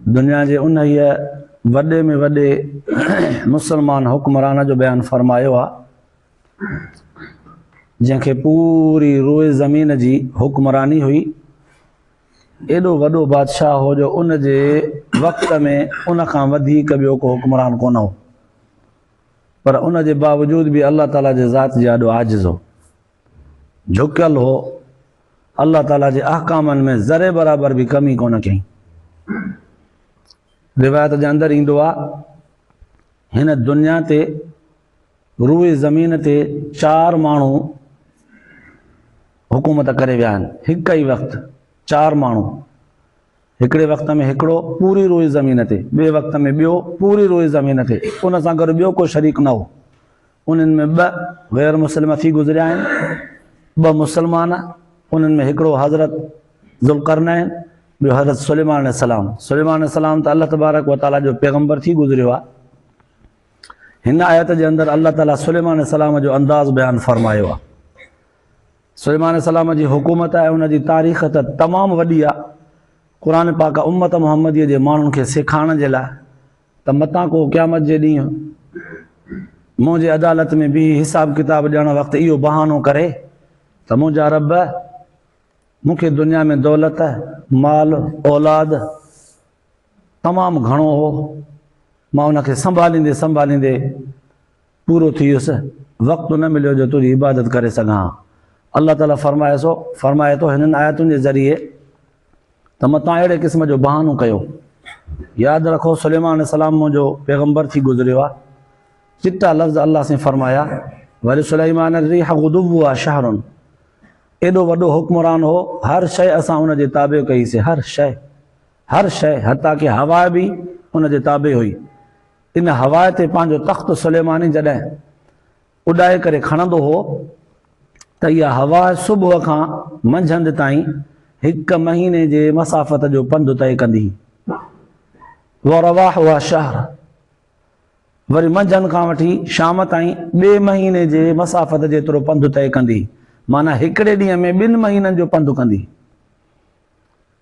دنيا جي انهيء وڏي ۾ وڏي مسلمان حڪمران جو بيان فرمايو آ، جنهن کي پوري روئي زمين جي حڪمراني هئي. ايڏو وڏو بادشاهه هو جو ان جي وقت ۾ ان کان وڌيڪ ٻيو ڪو حڪمران ڪونه هو. پر ان جي باوجود به الله تعاليٰ جي ذات جي آڏو عاجز هو. جهڪيل هو، الله تعالي جي احڪامن ۾ ذري برابر به ڪمي ڪونه ڪيائين. روايت جي اندر ايندو آ، هن دنيا تي روئي زمين تي چار ماڻهو حڪومت ڪري ويا آهن هڪ ئي وقت چار ماڻهو هڪڙي وقت ۾ هڪڙو پوري روئي زمين تي ٻي وقت ۾ ٻيو پوري روئي زمين تي ان سان گڏ ٻيو ڪو شريڪ نه هو انهن ۾ ٻه غير مسلم اٿي گذريا آهن، ٻه مسلمان، انهن ۾ هڪڙو حضرت ذوالقرنين، ٻيو حضرت سليمان عليه السلام، سليمان عليه السلام ته الله تبارڪ و تعاليٰ جو پيغمبر ٿي گذريو آهي. هن آيت جي اندر الله تعاليٰ سليمان عليه السلام جو انداز بيان فرمايو آهي. سليمان عليه السلام جي حڪومت ۽ ان جي تاريخ ته تمام وڏي آهي، قرآن پاڪ امت محمديء جي ماڻهن کي سيکارڻ جي لاء ته متان ڪو قيامت جي ڏينهن منهنجي عدالت ۾ بيهي حساب ڪتاب ڏيڻ وقت اهو بهانو ڪري ته منهنجا رب مون کي دنيا ۾ دولت مال اولاد تمام گهڻو هو مان ان کي سنڀاليندي سنڀاليندي پورو ٿي ويس، وقت نه مليو جو تنهنجي عبادت ڪري سگهان ها. الله تعاليٰ فرمائي ٿو، فرمائي ٿو، هنن آيتن جي ذريعي ته متان اهڙي قسم جو بهانو ڪيو. ياد رکو سليمان عليه السلام منهنجو پيغمبر ٿي گذريو آهي. چٽا لفظ الله سين فرمايا، ولسليمان الريح غدوها شهر ايڏو وڏو حڪمران هو، هر شيء اسان ان جي تابع ڪئي سي، هر شيء، هر شيء حتيٰ ڪي هوا به ان جي تابع هئي. ان هوا تي پنهنجو تخت سليماني جڏهن اڏائي ڪري کڻندو هو ته اها هوا صبح کان منجهند تائين هڪ مهيني جي مسافت جو پنڌ طئي ڪندي هئي. ورواحها شهر وري منجهند کان وٺي شام تائين ٻئي مهيني جي مسافت جيترو پنڌ طئي ڪندي معنيٰ هڪڙي ڏينهن ۾ ٻن مهينن جو پنڌ ڪندي.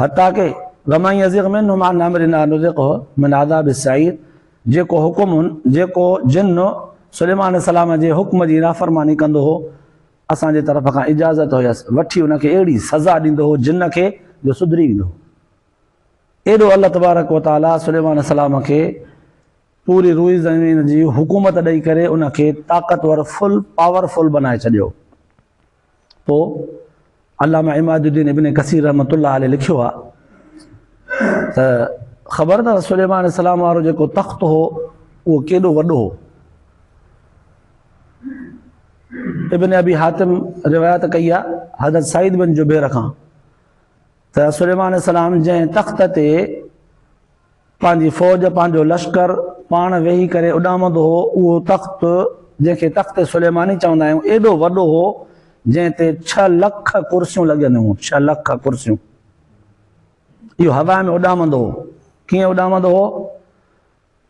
حتيٰ ڪه ومن يزغ منهم عن امرنا نذقه من عذاب السعير جيڪو حڪم هن جيڪو جن سليمان عليه السلام جي حڪم جي نافرماني ڪندو هو اسان جي طرف کان اجازت هيس وٺي ان کي اهڙي سزا ڏيندو هو جن کي جو سڌري ويندو هو ايڏو الله تبارڪ وتعاليٰ سليمان عليه السلام کي پوري روئي زمين جي حڪومت ڏئي ڪري ان کي طاقتور فل پاورفل بنائي ڇڏيو پوء علامه عماد الدين ابن ڪثير رحمة الله عليه لکيو آ ته خبر اٿس سليمان السلام وارو جيڪو تخت هو اهو ڪيڏو وڏو هو ابن ابي حاتم روايت ڪئي آ حضرت سعيد بن جبير کان ته سليمان السلام جنهن تخت تي پنهنجي فوج، پنهنجو لشڪر، پاڻ ويهي ڪري اڏامندو هو، اهو تخت، جنهن کي تخت سليماني چوندا آهيون، ايڏو وڏو هو، جنهن تي ڇهه لک ڪرسيون لڳيل هيون، ڇهه لک ڪرسيون. اهو هوا ۾ اڏامندو هو. ڪيئن اڏامندو هو؟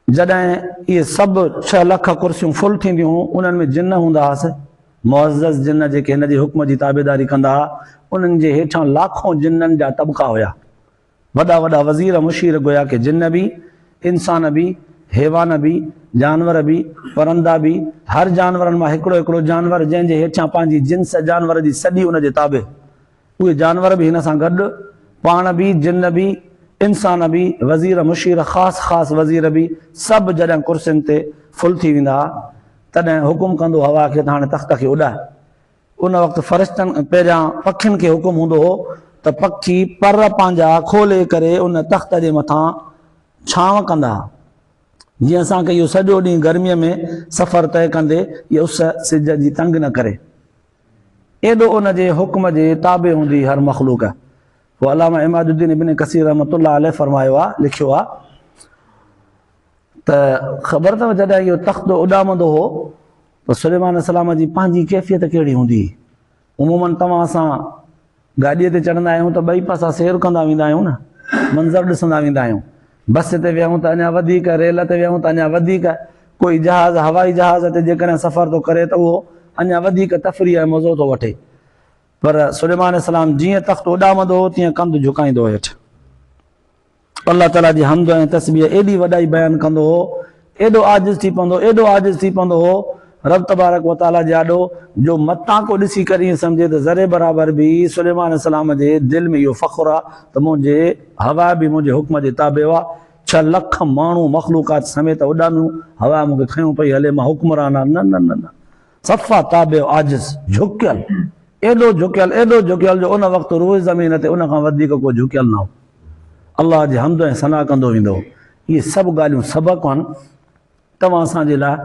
جڏهن اهي سڀ ڇهه لک ڪرسيون فل ٿينديون هيون، انهن ۾ جن هوندا هئس، معزز جن، جيڪي هن جي حڪم جي تابعداري ڪندا هئا، انهن جي هيٺان لاکون جنن جا طبقا هيا، وڏا وڏا وزير مشير گويا ڪي جن به، انسان به، حيوان به، جانور به، پرندا به، هر جانورن مان هڪڙو هڪڙو جانور جنهن جي هيٺيان پنهنجي جنس جانور جي سڏي ان جي تابع، اهي جانور به هن سان گڏ، پاڻ به، جن به، انسان به، وزير مشير خاص خاص وزير به سڀ جڏهن ڪرسين تي ڦل ٿي ويندا ها تڏهن حڪم ڪندو هوا کي ته هاڻي تخت کي اڏاء. ان وقت فرشتن پهريان پکين کي حڪم هوندو هو ته پکي پر پنهنجا کولي ڪري ان تخت جي مٿان ڇانو ڪندا ها جيئن اسان کي اهو سڄو ڏينهن گرميء ۾ سفر طئي ڪندي هيء اس سج جي تنگ نه ڪري. ايڏو ان جي حڪم جي تابع هوندي هر مخلوق هو علامه عماد الدين ابن ڪثير رحمة الله عليه فرمايو آهي، لکيو آهي. ته خبر اٿو جڏهن اهو تخت اڏامندو هو ته سليمان عليه السلام جي پنهنجي ڪيفيت ڪهڙي هوندي هئي. عموماً توهان اسان گاڏيء تي چڙهندا آهيون ته ٻئي پاسا سير ڪندا ويندا آهيون نه منظر ڏسندا ويندا آهيون. بس تي ويهون ته اڃا وڌيڪ، ريل تي ويهون ته اڃا وڌيڪ، ڪوئي جهاز، هوائي جهاز تي جيڪڏهن سفر ٿو ڪري ته اهو اڃا وڌيڪ تفريح ۽ مزو ٿو وٺي. پر سليمان عليه السلام جيئن تخت اڏامندو هو تيئن ڪنڌ جهڪائيندو هو هيٺ. الله تعاليٰ جي حمد ۽ تسبيح ايڏي وڏائي بيان ڪندو هو، ايڏو عاجز ٿي پوندو، ايڏو عاجز ٿي پوندو هو، رب تبارڪ و تعاليٰ جي آڏو، جو متان ڪو ڏسي ڪر ائين سمجهي ته ذري برابر به سليمان عليه السلام جي دل ۾ اهو فخر آ ته منهنجي هواء به منهنجي حڪم جي تابع هئا، ڇهه لک ماڻهو مخلوقات سميت اڏاميون، هواء مون کي کنيو پئي هلي، مان حڪمران آ، نه نه نه نه! صفا تابع عاجز، جهڪيل، ايڏو جهڪيل، ايڏو جهڪيل جو ان وقت روئي زمين تي ان کان وڌيڪ ڪو جهڪيل نه هو. الله جي حمد ۽ ثنا ڪندو ويندو هو. اهي سڀ ڳالهيون سبق آهن توهان اسان جي لاء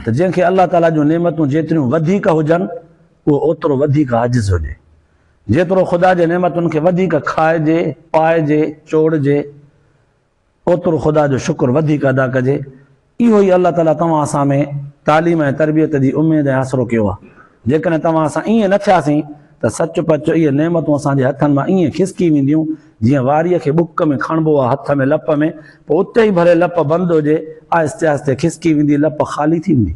ته جنهن کي الله تعاليٰ جون نعمتون جيتريون وڌيڪ هجن اهو اوترو وڌيڪ عاجز هجي. جيترو خدا جي نعمتن کي وڌيڪ کائجي، پائجي، چوڙجي اوترو خدا جو شڪر وڌيڪ ادا ڪجي، اهو ئي الله تعاليٰ توهان اسان ۾ تعليم ۽ تربيت جي اميد ۽ آسرو ڪيو آهي، جيڪڏهن توهان اسان ائين نه ٿياسين ته سچ پچ اهي نعمتون اسان جي هٿن مان ائين کسڪي وينديون جيئن واريء کي ٻڪ ۾ کڻبو آهي هٿ ۾ لپ ۾ پوء اتي ئي ڀلي لپ بند هجي آهستي آهستي کسڪي ويندي لپ خالي ٿي ويندي.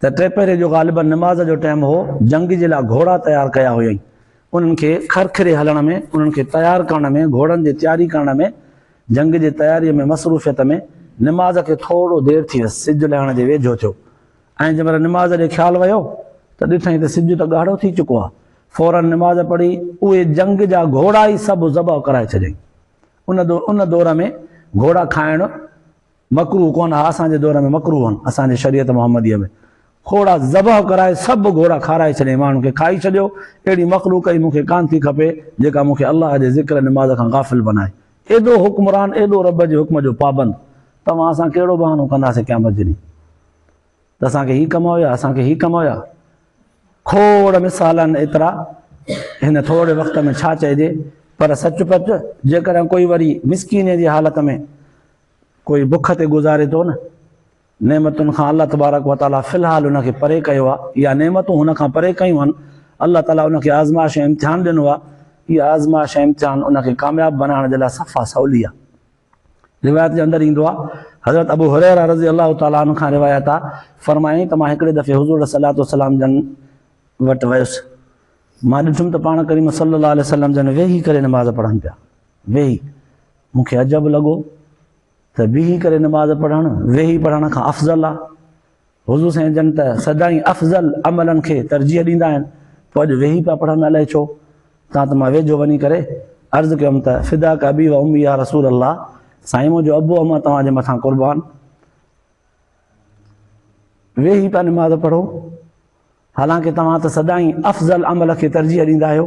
ته ٽي پهري جو غالباً نماز جو ٽيم هو، جنگ جي لاء گهوڙا تيار ڪيا هيائين. انهن کي کرکري هلڻ ۾، انهن کي تيار ڪرڻ ۾، گهوڙن جي تياري ڪرڻ ۾، جنگ جي تياريء ۾ مصروفيت ۾ نماز کي ٿورو دير ٿي ويس، سج لهڻ جي ويجهو ٿيو ۽ جنهن مهل نماز ڏي خيال ويو ته ڏٺائين ته سج ته ڳاڙهو ٿي چڪو آهي. فوراً نماز پڙهي اهي جنگ جا گهوڙا ئي سڀ ذبح ڪرائي ڇڏيائين. ان دور ۾ گهوڙا کائڻ. مڪروهه ڪونه ها اسان جي دور ۾ مڪروهن اسان جي شريعت محمديء ۾ کوڙا ذبح ڪرائي سڀ گهوڙا کارائي ڇڏيائين ماڻهن کي کائي ڇڏيو اهڙي مخلوق ئي مون کي ڪانه ٿي کپي جيڪا مون کي الله جي ذڪر نماز کان غافل بنائي ايڏو حڪمران ايڏو رب جي حڪم جو پابند توهان اسان ڪهڙو بهانو ڪنداسين قيامت جي ڏينهن ته اسان کي هي ڪم هيا اسان کي هي ڪم هيا کوڙ مثال آهن ايترا هن ٿوري وقت ۾ ڇا چئجي پر سچ پچ جيڪڏهن ڪوئي وري مسڪيني جي حالت ۾ ڪوئي بک تي گذاري ٿو نه نعمتن کان الله تبارڪ و تعالي في الحال ان کي پري ڪيو آ يا نعمتون هن کان پري ڪيون آهن الله تعالي ان کي آزمائش ۽ امتحان ڏنو آ هي آزمائش ۽ امتحان ان کي ڪامياب بنائڻ جي لاء صفا سولي آ روايت جي اندر ايندو آ حضرت ابو هريره رضي الله تعالي عنه کان روايت آ فرمائين ته مان هڪڙي دفعي حضور صلي الله عليه وسلم جن وٽ ويس مان ڏٺم ته پاڻ ڪريم صلي الله عليه وسلم جن ويهي ڪري نماز پڙهن پيا ويهي، مون کي عجب لڳو ته بيهي ڪري نماز پڙهڻ ويهي پڙهڻ کان افضل آهي. حضور سائين جن ته سدائين افضل عملن کي ترجيح ڏيندا آهن، پوء اڄ ويهي پيا پڙهن الائي ڇو؟ تان ته مان ويجهو وڃي ڪري عرض ڪيم ته فداڪ ابي و امي يا رسول الله، سائين منهنجو ابو امان توهان جي مٿان قربان، ويهي پيا نماز پڙهو، حالانڪه توهان ته سدائين افضل عمل کي ترجيح ڏيندا آهيو.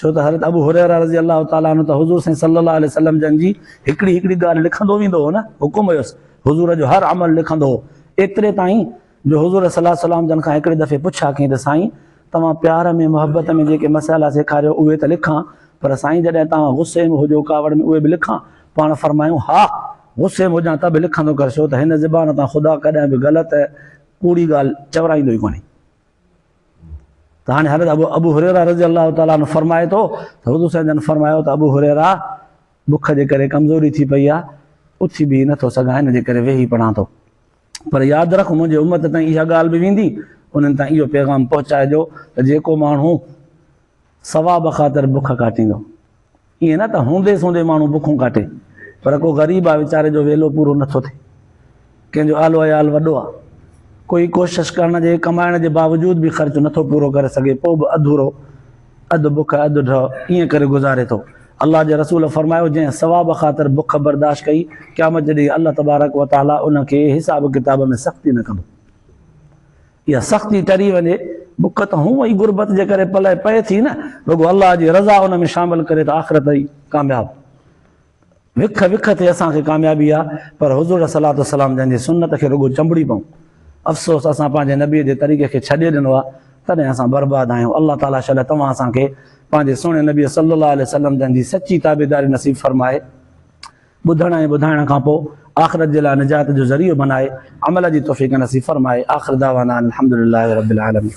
ڇو ته حضرت ابو هريره رضي الله تعالٰي عنه ته حضور سائين صلّي الله عليه وسلّم جن جي هڪڙي هڪڙي ڳالهه لکندو ويندو هو نه حڪم هيس حضور جو هر عمل لکندو هو ايتري تائين جو حضور صلّي الله عليه وسلّم جن کان هڪڙي دفعي پڇا ڪئين ته سائين توهان پيار ۾ محبت ۾ جيڪي مسئلا سيکاريو اهي ته لکان پر سائين جڏهن توهان غصي ۾ هجو ڪاوڙ ۾ اهي به لکان پاڻ فرمايون ها غصي ۾ هجان ته به لکندو ڪر ڇو ته هن زبان تان خدا ڪڏهن به غلط ڪوڙي ڳالهه چورائيندو ئي ڪونهي. ته هاڻي حضرت ابو هريره رضي الله تعالٰي عنه فرمائي ٿو ته حضور صلي الله عليه وسلم فرمايو ته ابو هريره بک جي ڪري ڪمزوري ٿي پئي آهي اٿي به نه ٿو سگهان ان جي ڪري ويهي پڙهان ٿو پر ياد رک منهنجي امت تائين اها ڳالهه به ويندي انهن تائين اهو پيغام پهچائجو ته جيڪو ماڻهو ثواب خاطر بک ڪاٽيندو. ائين نه ته هوندي سوندي ماڻهو بکون ڪاٽي، پر ڪو غريب آ ويچاري جو ويلو پورو نه ٿو ٿئي، ڪنهن جو اهل وعيال وڏو آ، ڪوئي ڪوشش ڪرڻ جي ڪمائڻ جي باوجود به خرچ نه ٿو پورو ڪري سگهي پوء به اڌورو، اڌ بک اڌ ڍء، ائين ڪري گذاري ٿو. الله جي رسول فرمايو، جنهن ثواب خاطر بک برداشت ڪئي، قيامت جي ڏينهن الله تبارڪ وتعاليٰ ان کي حساب ڪتاب ۾ سختي نه ڪندو. اها سختي ٽري وڃي، بک ته هونء ئي غربت جي ڪري پلئه پئي ٿي نه، رڳو الله جي رضا ان ۾ شامل ڪري ته آخرت ئي ڪامياب. وک وک تي اسان کي ڪاميابي آ، پر حضور عليه الصلوة والسلام جن جي سنت کي رڳو چنبڙي پئون. افسوس اسان پنهنجي نبي جي طريقي کي ڇڏي ڏنو آ، تڏهن اسان برباد آهيون. الله تعاليٰ شل توهان اسان کي پنهنجي سهڻي نبي صلّي اللّٰه عليه وسلّم جن جي سچي تابعداري نصيب فرمائي. ٻڌڻ ۽ ٻڌائڻ کان پوء آخرت جي لاء نجات جو ذريعو بنائي عمل جي توفيق نصيب فرمائي آخر دعوانا ان الحمدلله رب العالمين.